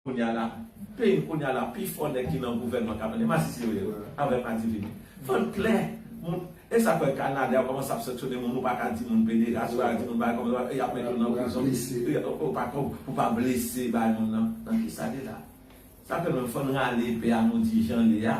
Kounya la ping kounya la pi fò nèg ki nan gouvènman kap vini masisi yo ye wi avè madivini vant klè moun esak fè kanadè yo kòmanse ap sanksyone moun ou paka di moun pederas ou paka di moun bagay kòmsa e yap mete w nan prizon ou pa ka pou pa blese bay moun nan nan kisa de la sa fè menm fòn rale epè a nou di jan li a.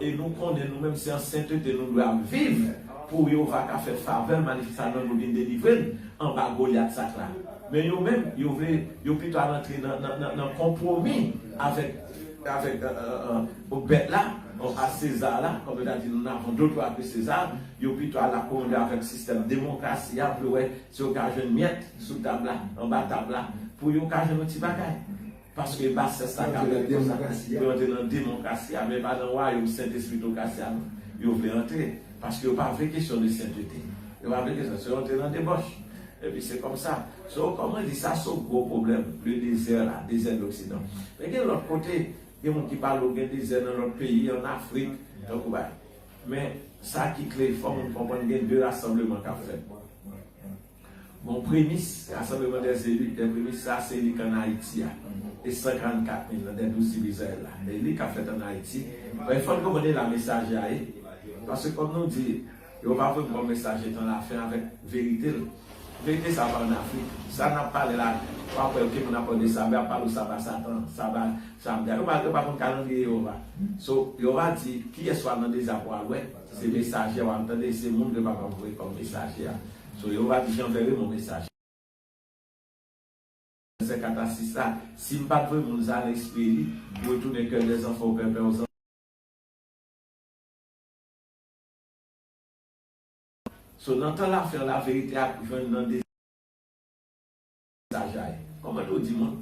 E nou konnen nou menm se an sentete nou dwe ap viv pou Jewova ka fè favè l manifeste a nan nou, vin delivre n anba Golyat sa k la. Men yo menm, yo vle, yo pito al antre nan konpwomi avèk bèt la, a César la, kòm yo ta di, nous n'avons d'autre roi que César, yo pito al akomode avèk sistèm demokrasi a pou yo wè si yo ka jwenn myèt sou tab la, anba tab la, pou yo ka jwenn yon ti bagay. Paske basès la ka pèmèt yo sa, pou yo antre nan demonkrasi a, men pa nan wayom sentespritokrasi a non. Yo vle antre, paske yo pa vle kesyon de sentete. Yo pa vle kesyon, se yo antre nan debòch. Epi se kòm sa. So, kòm mwen di, sa se yon gwo pwoblèm, le désert là, dezè de l'occident. Men gen lòt kote, gen moun ki pale w gen dezè nan lòt peyi, an Afrik, tankou bagay. Men, sa ki kle, fò moun konprann gen de rasanbleman k ap fèt. Bon premis Rasanbleman dè Elit dè premis sa a se elit ann Ayiti a, e 144 mil nan dè Douz Tribi Izrayèl la, dè elit k ap fèt ann Ayiti. Donk, fò n konprann elan mesaje a ye. Paske kòm nou di, Jewova voye m kòm mesaje tan lafen avèk verite l. Verite sa a pa ann Afrik. Sa n ap pale la, w ap wè ke moun ap pale de saba, y ap pale w saba Satan an, saba Shabda. Yo pa konn kalandriye Jewova. So, Jewova di, Kiyès w al nan dezè a pou w al wè? Se mesajè wap tande se moun ke papa voye kom mesajè a so yo pat jan vere mon mesajè. Sè kata sista sim pat voye moun sa lespri li retounen kè dè zanfan ou pèpè ou zanfan so nan tan la fen la verite ap jwenn nan de sajay koman nou di moun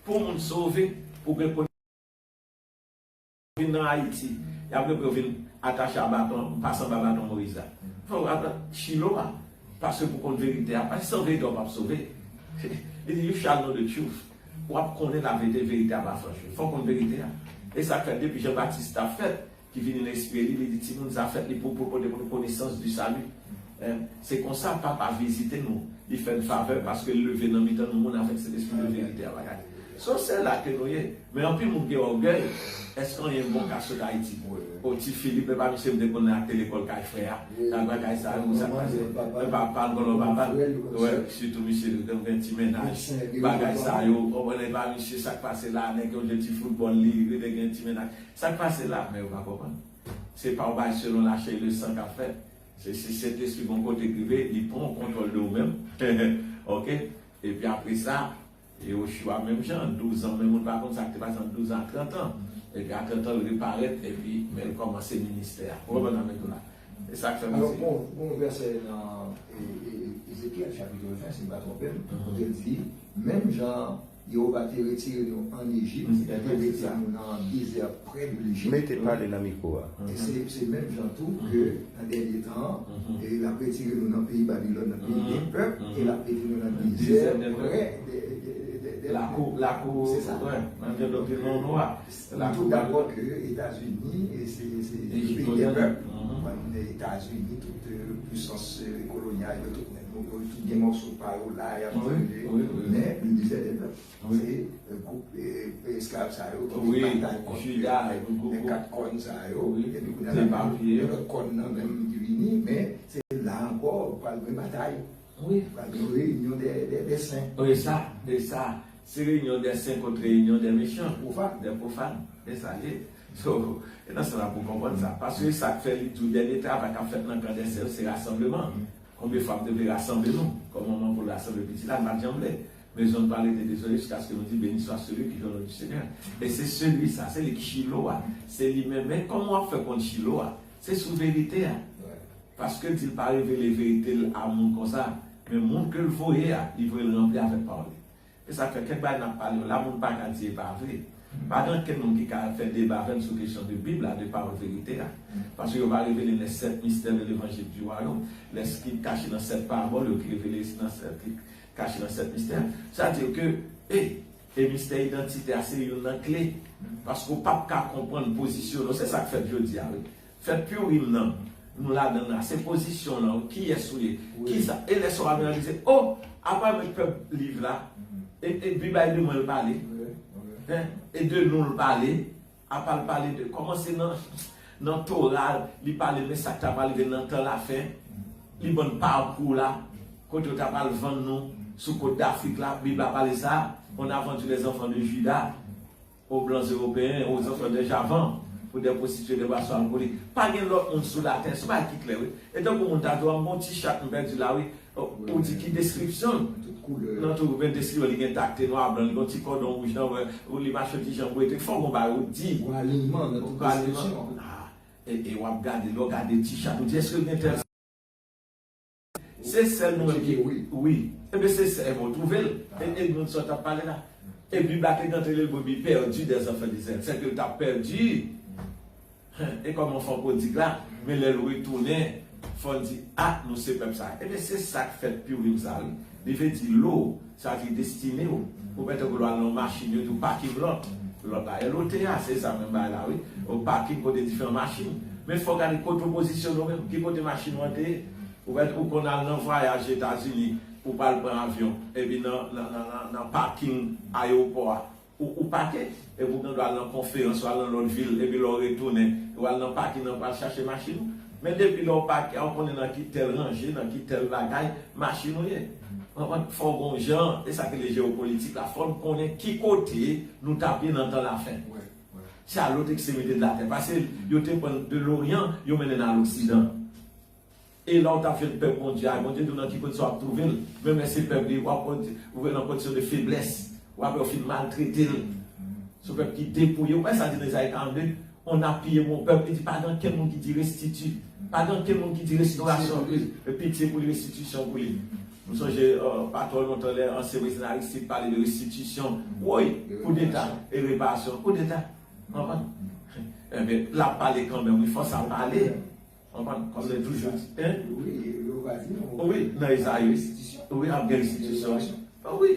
pou moun sove pou gen Vin nan Haiti yap rep yo vin atache a baton ou pa sanble a baton Moïse la fè w ata Chilo a pase pou konn verite a pa sanble etan w pap sove li di you shall know the truth wap konnen la verite verite a pa franch vre fò w konn verite a e sak fè depi Jean Baptiste tap fèt ki vini nan espri li li di timoun sa fèt li pou pote pou nou konesans du salut Hein, se konsa Papa vizite nou, li fè n favè paske l leve nan mitan nou moun avèk Sentespri de verite a bagay. So se la ke nou ye. Men anpil moun gen ògèy, èske anyen bon ka sot Ayiti? Oh Ti Filip, epa misye mete konnen ak te lekòl kay frè a, ak bagay sa yo, sa pase nan papa l, vòlò papa l. Wè, sitou misye li konn gen ti mennaj, bagay sa yo, ou konprann, epa misye sa k pase la, nèg yo jwe ti foutbòl li rele gen ti mennaj. Sa k pase la? Men yo pa konprann. Se pa w bay selon lachè e le san k ap fèt. Se si sentespri bon kote k rive li pran kontwòl de ou menm ok epi apresa Yehoshua menm jan douzan men moun pa konn sa k te pase ant douzan ak trantan epi a trantan l reparèt epi men l kòmanse ministè a ou konprann sa m vle di w la e sa k fè pase Alò gon vèsè nan Ezekyèl chapit 20 si m pa twonpe m kote l di menm jan Jewova te retire nou ann Ejip e te mete nou nan dezè prè de Lejip. E se menm jan tou ke nan dènye tan an, l ap retire nou nan peyi Babilòn, nan peyi de pèp, e l ap mete nou nan dezè prè de Lakou. Se sa. Nou tout dakò ke Etazini se yon peyi de pèp. Etazini, tout pwisans kolonyal yo, tout nèg yo tout gen mòso pa yo la, y ap dirije. Men, le mizè de pèp, se gwoup esklav sa yo ki vin batay kont nèg kat kòn sa yo. Epi kounye a la, gen lòt kòn nan menm ki vini. Men, se la ankò, pral gen batay. Wi pral gen yon reyinyon dè sen. Wi sa, wi sa. Se reyinyon dè sen kont reyinyon dè mechan, dè pwofàn. E sa l ye. So, e nan sa sa pou w konprann sa. Paske sa k fè li di w dènye travay k ap fèt nan kan dè sen yo se rasanbleman. Konbyen fwa m te vle rasanble nou kòm manman pou l rasanble pitit la, n pa t janm vle. Men zòn pa rete dezole jiskaske nou di Beni swa seli ki vini o non di Senyè. E se seli sa, se li k Chilo a. Se li menm. Men kòman w ap fè konn Chilo a? Se sou verite a. Paske dil pa revele verite l a moun konsa, men moun ke l voye a, li voye l ranpli avèk pawòl li. E sa k fè kèk bagay n ap pale yo la, moun pa ka di e pa vre. Pa gen ankenn moun ki ka fè deba avè m sou kesyon de Bib la, de pawòl verite a. Paske yo pa revele les sept mystères de l'Evangile du Royaume, les skrip kache nan sèt parabòl yo ki revele nan sèt skrip kache nan sèt mistè. Sa di ke e e mistè idantite a se youn nan kle. Paske w pap ka konprann pozisyon non se sa k fèt jodi a wi. Fè piu rim nan Nou ladann la se pozisyon lan wi kiyès ou ye kisa e lè sa wap reyalize oh apa mwen t pè liv la e e dpi bay de mwen l pale hein e de nou l pale apa l pale de kòman se nan nan tora li pale de sak ta pral rive nan tan la fen li bann parkou la kote yo ta pral vann nou sou kot dafrik la bib la pale sa on a vendu les enfants de juda. O blan zewopeyen o zanzò dè javan pou dè pwostitye dè bwason alkolik pa gen lòt moun sou latè son bagay ki klè wi e tankou moun ta di w a m gon ti chat m pèdi la wi ou di ki deskripsyon l nan tou men deskripsyon li gen takte nwa blan li gon ti kòdon wouj nan bwè l li mache yon ti jan bwete fò w gon bagay ou di ou aliman nan tout deskripsyon e w ap gade lè w gade ti chat ou di èske l gen tèl Se sèl mwen ki wi. Ebyen se sè ebyen ou twouvel e Edmond sa w tap pale la epi baky t antre l brebis pèdi des enfants d'Israël sè ke l tap pèdi Huh e kòman anfant prodig la men lè l retounen fò n di ah nou se pèp sa ebyen se sak fèt piu vin sa wi li vle di lo Sa ki destine w ou mèt tankou lwa nan yon machin yo di w pakin lòt lòt la LOTA se sa menm bagay la wi ou pakin kote diferan machin men fò w gade kote ou pozisyone w menm ki kote machin ou an te ye ou mèt ou konn al nan vwayaj etazini ou pral pran avyon epi nan nan nan pakin ayewopò a Ou ou pake, epi ou gen dwa al nan konferans, ou al nan lòt vil, epi lè w retounen, ou al nan pakin an pou al chache machin ou. Men depi lè w pake a, ou konnen nan ki tèl ranje, nan ki tèl bagay, machin ou ye. Konprann? Fò w gen yon jan, e sa ki rele jewopolitik la, fò n konnen ki kote nou t ap ye nan tan lafen. Se a lòt ekstremite de latè. Pase yo te pran n de loryan, yo mennen n a loksidan. E lè w tap jwenn pèp Bondye a, Bondye di w nan ki kondisyon wap twouve l, men men se pèp li, wap wè w nan kondisyon de feblès, wap wè w fin maltrete l. Se yon pèp ki depouye, ou pa wè sa l di nan Ezayi 42, on a pillé mon peuple, li di pa gen ankenn moun ki di restiti, pa gen ankenn moun ki di restorasyon pou li, pitye pou li, restitisyon pou li. M sonje pa twò lontan lè ansyen prezidan Aristide pale de restitisyon, woy! Koudeta e reparasyon, koudeta! Anvan. Enben, lap pale kanmenm wi, fòk sa pale. An pa m se toujou di en. Wi yo va di nou. Wi nan Ezayi wi. Wi ap gen restitisyon wi. O wi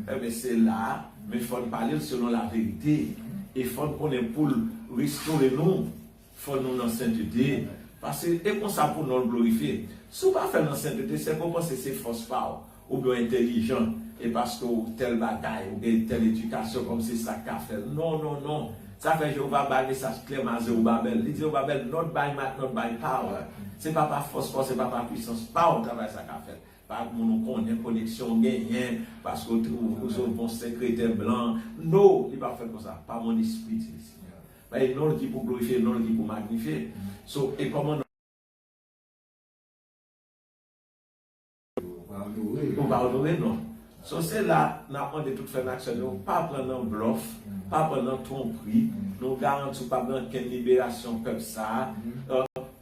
enben se la a men fò n pale l selon laverite e fò n konnen pou l restore nou fò nou nan sentete pase e konsa pou non l glorifye. Si w pa fè l nan sentete sèke w panse se fòs pa w Ou gen w entelijan e paske w tèl bagay, ou gen tèl edikasyon kòm se sa k ka fè l. Non, non, non! Sa fè Jewova bay mesaj klè men a Zewobabèl. Li di Zewobabèl, Not by might, not by power. Se pa pa fòs pa w, se pa pa puisans pa w travay sa a ka fèt. Pa ak moun ou konnen, koneksyon ou genyen, paske w twouve ou se yon bon sekretè blan. No! Li pap fèt konsa. Pa mon espri, di Lesenyè. Ba e non l ki pou glorifye, non l ki pou magnifye. So, e kòman. Ou pa onore non. So se la n ap mande tout frè n ak sè nou pa pran nan blòf, pa pran nan twonpri, nou garanti w pa pran kenn liberasyon pèp sa a.